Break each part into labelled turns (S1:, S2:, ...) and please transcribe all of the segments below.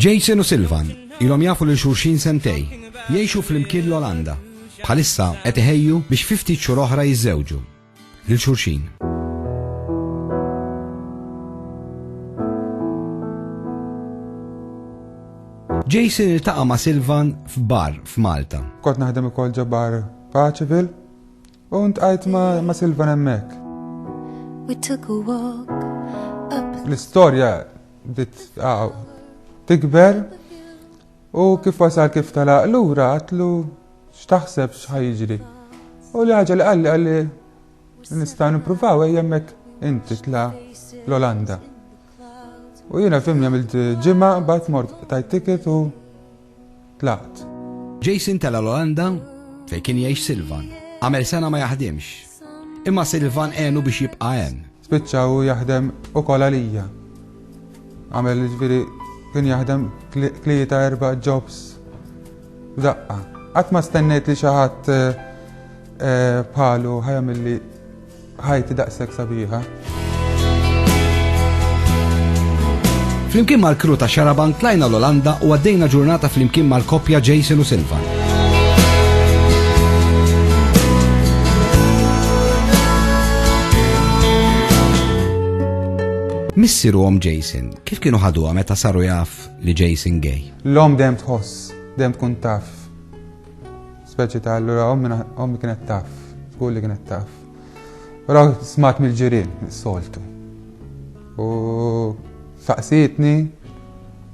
S1: Jason u Silvan ilhom jafu lil xulxin sentej, jgħixu fl-imkien l-Olanda. Bħalissa qed iħejju biex 50 xhur oħra jiżżewġu. lil xulxin. Jason iltaqa ma' Silvan f'bar f'Malta. Kont naħdem ukoll
S2: ġabar Paċivil u ntqajt ma' Silvan hemmhekk. L-istorja bdiet tikber u kif wasal kif talaq lura għatlu X'taħseb x'ħa jiġri? U li ħaġa li qalli qalli nistgħu nippruvaw ejja hemmhekk inti tla' l-Olanda. U jiena fim jagħmel ġimgħa mbagħad mort tajt ticket u tlaqt. Jason
S1: tela' l-Olanda fejn kien jgħix Silvan. Għamel sena ma jaħdimx. Imma Silvan għenu biex jibqa' hemm. Spiċċa hu jaħdem
S2: ukoll għalija. Għamel ġifieri kien jaħdem tlieta erba' jobs f'daqqa. Qatt ma stennejt li xi ħadd eh, eh, bħalu ħajamilli ħajti daqshekk sabiħa.
S1: Flimkien mal-kru ta' Xarabank tlajna l-Olanda u għaddejna ġurnata flimkien mal-koppja Jason u Silvan. Missiru għom Jason, kif kienu ħadu meta saru jaf li Jason gay? L-om dem tħoss,
S2: dem tkun taf. Speċi ta' allura ommi kienet taf, skull li kienet taf. Raw smat mill-ġirien, soltu. U saqsitni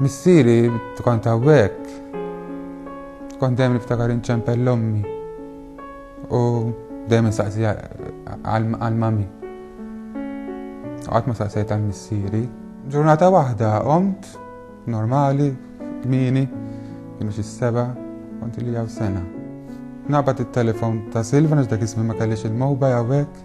S2: Missieri, inti kont hawnhekk. Kont dejjem niftakar inċempel l-ommi. U dejjem insaqsi għal-mami. Għat ma saqsejt għal-missieri. Ġurnata waħda omt, normali, kmini, kienu xi seba, kont li għaw sena. Nabat il-telefon ta' Silvan għax dak ismi ma kellix il-mowba għawek.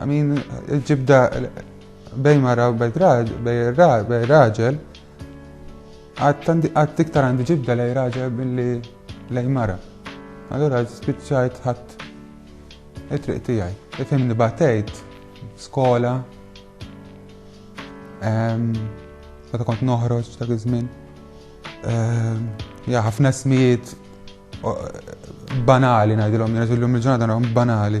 S2: I mean, ġibda bej mara u bej raġel, għad tiktar għandi ġibda lej raġel billi lej mara. Allora spiċċajt ħadd it-triq tiegħi. Ifhimni batejt skola, meta kont noħroġ ta' iż-żmien. Ja ħafna smijiet banali ngħidilhom, nirriżillhom il-ġurnata banali.